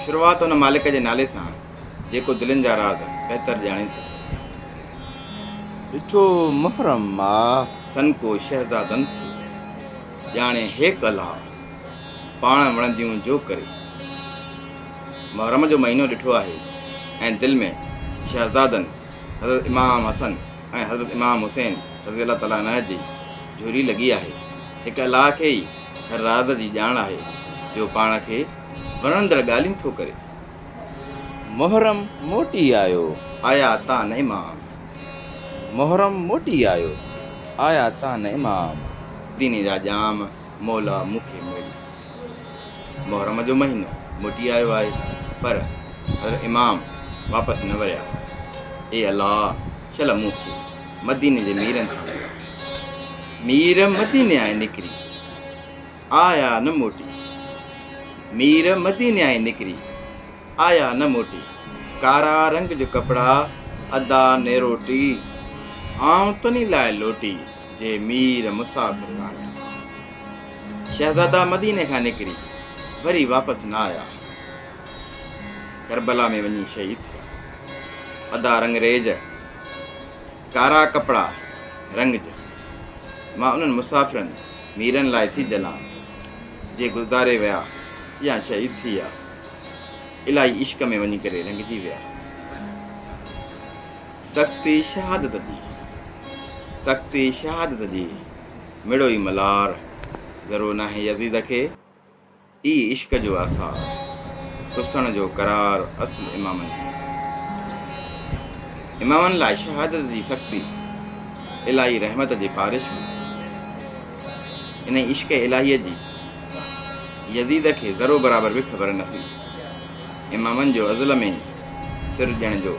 شروعات ان مالڪ جي نالي سان جيڪو دلين جا راز بهتر ڄاڻي ٿو. ڏٺو محرم ماهه. سنڪو شهزادن ٿيو ڄاڻي هيڪ الها. پاڻ وڻنديون جو ڪري. محرم جو مهينو ڏٺو آهي ۽ دل ۾ شهزادن حضرت امام حسن. ۽ حضرت امام حسين رضي الله تعالٰي عنه جي جھولي لڳي آھي، ھڪ الله کي ئي ھر راز جي ڄاڻ آھي جو پاڻ کي وڻندڙ ڳالھيون ٿو ڪري. محرم موٽي آيو آيا تان امام محرم موٽي آيو آيا تان امام. ديني جا ڄام. مولا مون کي مڙئي محرم جو مهينو موٽي آيو آهي پر حضرت امام واپس نه وريا اي الله شل مون کي مديني جي ميرن سان مڙاء مير مديني آئي نڪري آيا نه موٽي مير مديني آئي نڪري آيا نه موٽي ڪارا رنگ جو ڪپڙا ادا نيروٽي آئون تني لاء لوٽي جي مير مسافر ڪانه آهن. شهزادا مديني کان نڪري وري واپس نه آيا آهن. ڪربلا ۾ وڃي شهيد ٿيا. ادا رنگريز، ڪارا ڪپڙا رنگ جا، مان انهن مسافرن، ميرن لاء ٿي جلان، جي گذاري ويا يا شهيد ٿي ويا. الائي عشق ۾ وڃي ڪري رنگجي ويا. تخت شهادت جي تخت شهادت جي مڙو ئي ملار ذرو ناهي يزيد کي ئي عشق جو آثار سسڻ جو قرار اصل امامن جي امامن لاء شهادت جي سختي الاهي رحمت جي بارش هئي انهي عشق الاهي جي يزيد کي ذرو برابر به خبر نه هئي امامن جو ازل ۾ سر ڏيڻ جو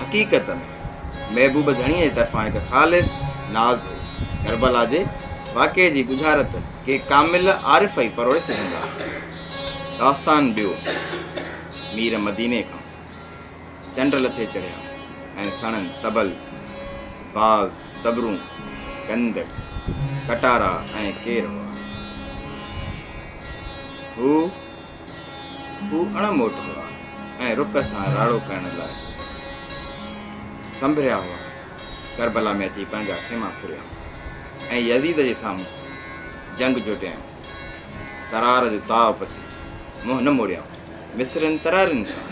حقيقت ۾ محبوب ڌڻيء جي طرفان هڪ خالص ناز هو. ڪربلا جي واقعي جي ڳجهارت ڪي ڪامل عارف ئي پروڙي سگهندا آهن. داستان ٻيو، مير مديني کان چنڊ لٿي چڙهيا ۽ سڻن طبل، باز، طبرون، گند، ڪٽارا ۽ ڪير هئا. هو. هو اڻ موٽ هئا ۽ رڪ سان راڙو ڪرڻ لاء سنڀريا هئا. ڪربلا ۾ اچي پنهنجا خيما ڦريائون ۽ يزيد جي سامهون جنگ جوٽيائون. ترار جو تاء پسي منهن نه موڙيائون. مصرين ترارين سان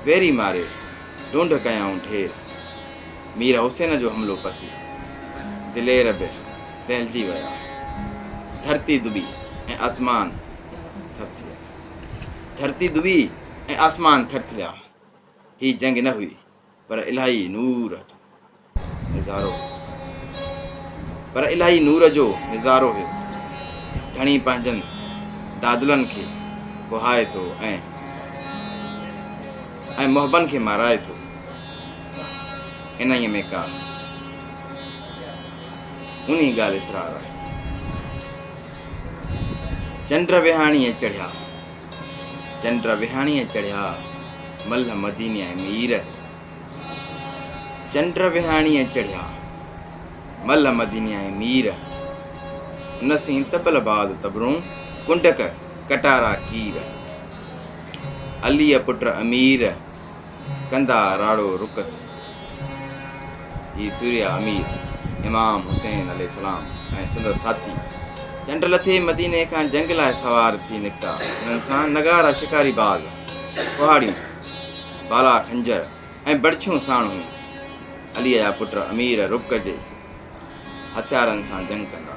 ويري ماري. ڍونڍ ڪيائون ڍير، مير حسين جو حملو پسي، دلير به دهلجي ويا، ڌرتي دٻي ۽ آسمان ٿر ٿيا، ڌرتي دٻي ۽ آسمان ٿر ٿيا، هي جنگ نه هئي پر الاهي نور هتو. نظارو هيو، پر الاهي نور جو نظارو هيو. ڌڻي پنهنجن دادلن کي ڪهائي ٿو ۽ ۽ محبن کي مارائي ٿو. انهيء ۾ ڪا اونهي ڳالهه اسرار آهي. چنڊ ويهاڻيء چڙهيا، چنڊ ويهاڻيء چڙهيا، ملهه مدينيء مير. چنڊ وهاڻيء چڙهيا، ملهه مديني ۽ مير، نه سين طبل باد طبرون، ڪنڊڪ ڪٽارا ڪير. عليء پٽ امير، ڪندا راڙو رڪت. هي سوريا امير، امام حسين عليه السلام ۽ سندس ساٿي، چنڊ لٿي مديني کان جنگ لاء سوار ٿي نڪتا. هنن سان نغارا، شڪاري باز، ڪهاڙيون، بالا خنجر ۽ بڙڇيون ساڻ هيون. عليء جا پٽ امير رڪ جي هٿيارن سان جنگ ڪندا.